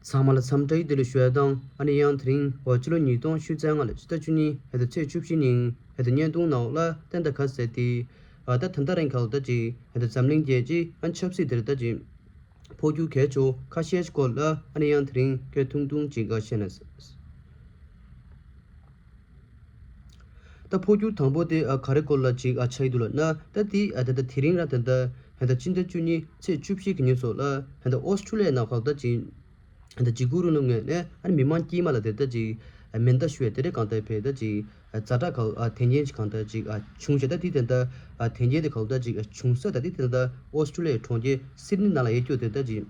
ཚང་མ་ལ་འཚམས་བཀྲ་ཤིས་བདེ་ལེགས་ཞུ་ཡ་དང་ཨ་ནེ་ཡང་དེ་རིང་བ་ཕྱི་ལོ་ཉིས་སྟོང་ཕྱི་ཚེས་ལྔ་ལ་ཕྱི་ཟླ་བཅུ་གཉིས་ཕེ་ཟླ་ཚེས་བཅུ་བཞི་ཉིན་ཕེ་ཟླ་བརྙན་ཐུང་ནག་ལ་ཏན་ཏཱ་ཁ་ཟེར་ཏེ། ད་ལྟ་ད་རིང་ག་ལ་ད་ཅིག་ཕེ་ཟླ་འཛམ་གླིང་རྒྱལ་སྤྱི་ཨ་ཆབ་སྲིད་དེར་ད་ཅིག་འཕོ་འགྱུར་གས་ཆོ་ཁ་ཤས་ཀྱི་སྐོར་ལ་ཨ་ནེ་ཡང་དེ་རིང་སྐད་ཐུང་ཐུང་ཅིག་འགའ་བཤད་ན། ད་འཕོ་འགྱུར་དང་པོ་དེ་ག་རེ་སྐོར་ལ་ཅིག་ཆ་ཡི་འདུག་ལ་ན་ད་དེ་ད་ད་དེ་རིང་ར་དེ་ད་ད་སྤྱི་ཟླ་བཅུ་གཉིས་ཚེས་བཅུ་བཞི་གི་ཉིན་སོགས་ལ་ད་ད་ཨོས་ཁྲུ་ལའི་ནང་ཧོག་ད་ཅིག་ད་ད་ཇི་གུ་རུ་ནུ་ངས་ནས་ཨ་རི་མི་མང་དཀྱིལ་མ་ལ་དེ་ད་ཅིག་མེ་མདའ་ཞུ་བའི་དེ་རེ་གང་ད་བས་ད་ཅིག་རྫ་བྲག་ག་ཨོས་དེ་འགྱེལ་གང་ད་ཅིག་བྱུང་བྱས་ད་དེ་དེ་ད་ད་དེ་འགྱེལ་དེ་ག་ཨོས་ད་ཅིག་བྱུང་ས་ད་དེ་དེ་ད་ད་ཨོས་ཁྲུ་ལའི་གྲོང་ཁྱེར་སིད་ནི་ནང་ལ་ཡེ་སྐྱོ་དེ་ད་ཅིག།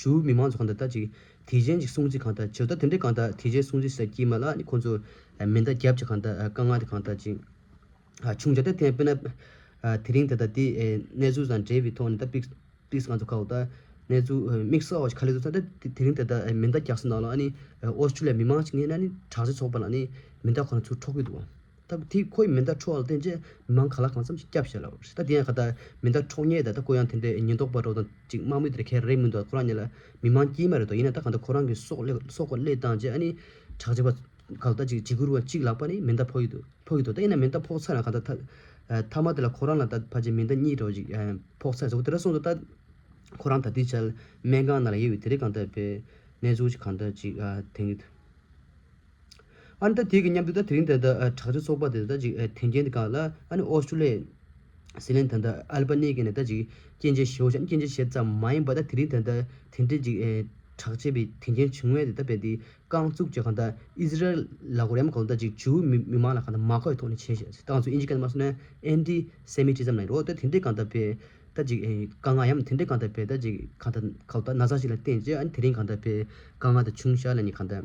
ཇུའུ་མི་མང་ཚོ་གང་དག་ད་ཅིག་དེ་གཞན་གྱི་སྲུང་བརྩི་གང་དག་བྱེད་ད་དེ་འདྲའི་གང་དག་དེ་གཞན་སྲུང་བརྩི་ཟེར་གྱིས་མ་ལགས་ནི་ཁོང་ཚོ་མེ་མདའ་རྒྱབ་ཀྱི་གང་དག་དཀའ་ངལ་དེ་གང་དག་ཅིག་བྱུང་བྱ་ད་ཐེངས་དཔེར་ན་དེ་རིང་ད་ལྟ་དེ་གནས་ཚུལ་དང་འབྲེལ་བའི་ཐོག་ནས་ད་དཔེ་དཔེ་གང་ཚོ་ཁ་བ་ད་གནས་ཚུལ་དམིགས་བསལ་བ་ཞིག་ཁ་ལས་བཟོ་ད་དེ་རིང་ད་ལྟ་མེ་མདའ་རྒྱག་ས་ནང་ལ་ཨ་ནི་ཨོ་སི་ཀྲི་ལི་ཡ་མི་མང་ཅིག་ངེས་ན་ནི་དྲག་ཆས་ཚོགས་པ་ལ་ནི་མེ་མདའ་ཁོ་རང་ཚུར་འཕྲོག་གི་འདུག་ད་གུ་དེས་ཁོའི་མེ་མདའ་འཕྲོག་ལ་བརྟེན་ཅེས་མི་མང་ག་ལ་གང་འཚམས་ཤིག་སྐྱབས་བྱས་ལ་ད་དེ་ཡང་ཁ་ད་མེ་མདའ་འཕྲོག་ཉེས་ད་ད་གུ་ཡང་དེ་འདྲའི་ཉེན་རྟོག་པ་རོགས་དང་ཅིག་དམག་མི་དེ་འདྲ་ཁེར་རེ་མི་འདུག་ད་ཁོ་རང་ཉིད་ལ་མི་མང་སྐྱིད་མ་རེད་དོ་ཡིན་ན་ད་ག་འདྲ་ཁོ་རང་གི་སྲོག་སྲོག་སླེ་བཏང་རྗེས་ཨ་ནི་དྲག་ཆས་པ་ག་ལ་ད་ཅིག་འཇིགས་སྐུལ་བ་ཅིག་ལགས་པ་ནི་མེ་མདའ་ཕོག་གི་འདུག་ཕོག་གི་འདུག་ད་ཡིན་ན་མེ་མདའ་ཕོག་ཚར་ན་ག་ད་མཐའ་མ་དེ་ལ་ཁོ་རང་ལ་ད་ཕ་ཅིག་མེ་མདའ་གཉིས་གྲོགས་ཅིག་ཕོག་ཚར་ཟེར་གོ་དེ་འདྲ་གསུངས་འདུག་ད་ཁོ་རང་ད་དུས་བྱས་ལ་སྨན་ཁང་ནང་ལ་ཡེར་བའི་དེ་རིང་གང་ད་པའི་གནས་ཚུལ་ཅིག་གང་ད་ཅིག་དེང་གི་ཨ་ནི་ད་དེ་གི་མཉམ་དུ་ད་དེ་རིང་དེ་དག་དྲག་ཆས་ཚོགས་པ་དེ་དག་ཅིག་ཐེན་ཅན་གང་ལ་ཨ་ནི་ཨོ་སི་ཀྲུ་ལི་སི་ལན་དང་ད་ཨལ་པ་ནི་ཀི་ནས་ད་ཅིག་སྐྱེན་ཆས་ཞེའོ་ཞང་སྐྱེན་ཆས་ཞེ་ཙམ་མ་ཡིན་པ་ད་དེ་རིང་དེ་དག་ཐེན་ཅན་ཅིག་དྲག་ཆས་པའི་ཐེན་ཅན་བྱུང་བས་དེ་དག་པས་དེ་རྐང་བཙུགས་ཀྱི་གང་ད་ཨི་ཟི་རལ་ལ་གོ་རེམ་གང་ད་ཅིག་ཇུའུ་མི་མི་མང་ལ་གང་ད་མ་ཁོའི་ཐོག་ནས་བྱས་ཞེས་ཏང་ཙུའུ་ཨིན་ཇི་ཀན་མ་སོ་ནན་ཨན་ཏི་སེ་མི་ཏི་ཛམ་ལ་ཡིན་རོ་ད་དེ་འདྲས་གང་ད་པས་ད་ཅིག་དཀའ་ངལ་ཡམ་དེ་འདྲས་གང་ད་པས་ད་ཅིག་གང་ད་གང་ད་ན་ཚ་ཞིག་ལ་བརྟེན་ཅེས་ཨ་ནི་དེ་རིང་གང་ད་པས་དཀའ་ངལ་ད་ཆུང་ཞར་ལ་ནི་གང་ད།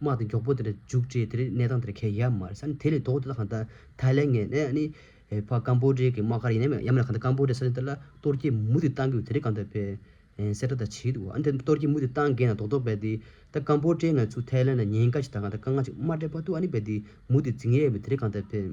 དམག་དེ་མགྱོགས་པོ་དེར་བརྒྱུགས་རྗེས་དེར་གནས་སྟངས་དེར་ཁས་ཡར་མར་ས་ནས་དེ་ལས་ལྡོག་དེ་དག་གང་ལྟར་ཐའི་ལེ་ངན་ནས་ནི། ཕ་ཀམ་པོ་ཏྲེ་གི་དམག་སྒར་ཡིན་ནམ་ཡང་མིན་ལ་གང་ལྟར་ཀམ་པོ་ཏྲེ་ས་ཆེན་དེ་ལ་གཏོར་སྐྱེལ་མུ་མཐུད་གཏང་དགོས་དེ་རིང་གང་ལྟར་བས། སེར་ཏྲ་དང་བྱིས་དུ་འོ་ན་དེ་གཏོར་སྐྱེལ་མུ་མཐུད་གཏང་དགོས་ན་རྡོག་རྡོག་བས་ཏེ། ད་ཀམ་པོ་ཏྲེ་ནག་ཚུ་ཐའི་ལེ་ན་ཉེན་ཁ་ཞིག་དང་གང་ལྟར་དཀའ་ངལ་ཞིག་མ་སྤྲད་པར་དུ་ཨ་ནི་བས་ཏེ་མུ་མཐུད་འཛིང་ཡས་ཡོད་པས་དེ་རིང་གང་ལྟར་བས།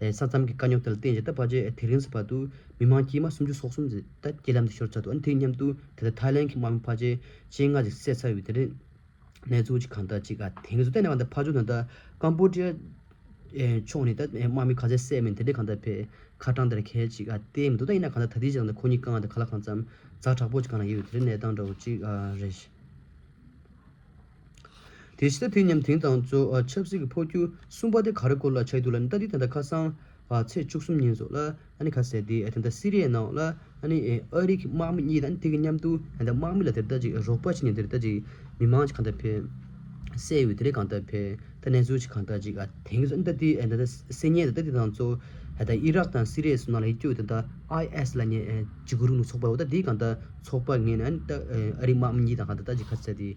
ས་མཚམས་ཀྱི་དཀའ་རྙོག་དེ་ལ་བརྟེན་རྗེས་ད་བར་གྱི་དེ་རིང་གི་བར་དུ་མི་མང་དཀྱིལ་མ་སུམ་ཅུ་སོ་གསུམ་ཟིན་ཐ་དཀྱིལ་ལམ་དུ་ཤོར་ཚར་འདུག་དེ་མཉམ་དུ་དེ་ལྟར་ཐའི་ལེན་གྱི་དམག་མི་ཕ་ཆེ་ཆེ་ལྔ་ཞིག་བསད་ཚར་ཡོད་དེ་རེད། གནས་ཚུལ་གཅིག་གང་དག་ཅིག་དེ་གས་སུ་གཏན་ནས་མ་འདུག་ཕ་ཇོ་ནི་ད་ཀམ་པོ་ཏྲི་ཡ་ཕྱོགས་ནས་ད་དམག་མི་ག་ཚད་བསད་མིན་དེ་འདྲའི་གང་དག་ཕེ་ཁ་གྲངས་དེར་གས་ཅིག་བལྟས་མི་འདུག་ད་ཡིན་ན་གང་ལྟར་ད་དེའི་རྗེས་ལ་ཁོ་གཉིས་རྐང་དེ་ག་ལ་གང་ཙམ་རྫ་དྲག་པོ་ཅིག་གང་ན་ཡོད་ཡོད་དེ་རེད་གནས་སྟངས་འདྲ་བོ་ཅིག་རེད། དེ་ཕྱི་ད་དུས་མཉམ་དེང་དང་གཙོ་ཆབ་སྲིད་ཀྱི་འཕོ་འགྱུར་གསུམ་པ་དེ་ག་རེ་སྐོར་ལ་ཆགས་འདུག་ལ་ནི་ད་དུས་ད་ལྟ་ཁ་སང་ཚེས་བཅུ་གསུམ་ཉིན་སོགས་ལ་ཨ་ནི་ཁ་གསལ་དེ་དེ་ད་སི་རི་ཡའི་ནང་ལ་ཨ་ནི་ཨ་རིའི་དམག་མི་གཉིས་དང་དེ་གི་མཉམ་དུ་དེ་ད་དམག་མི་ལ་དེ་རི་ད་ཅིག་རོགས་པ་བྱས་ནས་དེ་རི་ད་ཅིག་མི་མང་གཅིག་གང་དག་ཕེབས་སའི་ཡུལ་དེ་རི་གང་དག་ཕེབས་ད་གནས་ཚུལ་ཅིག་གང་དག་ཅིག་དེང་གི་ད་ནི་ད་དུས་ད་ད་སི་ཉེ་ད་དུས་དང་གཙོ་ད་ཨི་རག་དང་སི་རི་ཡའི་སོ་ནང་ལ་ཡིད་སྐྱོ་དེ་ད་ཨའི་ཨེས་ལ་ཉེ་ཇི་དགོས་རུང་ནུ་ཚོགས་པ་འོ་ད་དེ་གང་དག་ཚོགས་པ་ངས་ནི་ཨ་ནི་ད་ཨ་རིའི་དམག་མི་གཉིས་དང་གང་དག་ད་ཅིག་ཁ་གསལ་དེ།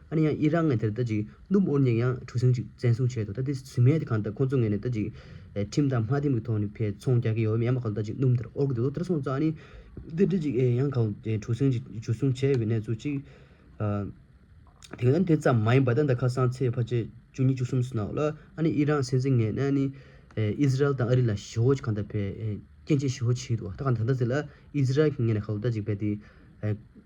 ཨ་ནི་ཡང་ཨི་རག་ངས་དེར་ལྟ་ཅིག་ནུབ་ཨོར་ཉིག་ཡང་གྲུ་གཟིངས་གཅིག་བཙན་བཟུང་བྱས་འདུག་ད་དེ་ཟིན་མེད་དེ་གང་ལྟར་ཁོང་ཚོ་ངས་ནས་ལྟ་ཅིག། ཁྲིམས་དང་དམའ་འཐེམ་གྱི་ཐོག་ནས་ཕའི་ཚོང་རྒྱག་གི་ཡོད་བས་མི་ཡ་མ་གང་ལྟ་ཅིག་ནུབ་དེར་ཨོར་གྱི་འདུག་ལོ་ལྟར་སོང་ཙང་ཨ་ནི། དེར་ལྟ་ཅིག་ཨེ་ཡང་གང་གྲུ་གཟིངས་གཅིག་གཅིག་བཟུང་བྱས་ཡོད་པའི་གནས་ཚུལ་གཅིག། དེ་ག་ནི་དེ་ཙམ་མ་ཡིན་པར་ད་ད་ཁ་སང་ཚེས་བྷ་ཆེ་བཅུ་གཉིས་བཅུ་གསུམ་སོ་ནའོ་ལ་ཨ་ནི་ཨི་རག་སྲིད་འཛིན་ངས་ནས་ཨ་ནི། ཨིས་རལ་དང་ཨ་རི་ལ་ཞི་བོ་གང་ལྟར་ཕའི་སྐྱེ་མཆེད་ཞི་བོ་བྱས་འདུག་ད་གང་ལྟར་ད་ཟེར་ལ་ཨིས་རལ་གྱིས་ངས་ནས་གང་ལྟ་ཅིག་ཕའི་དེ།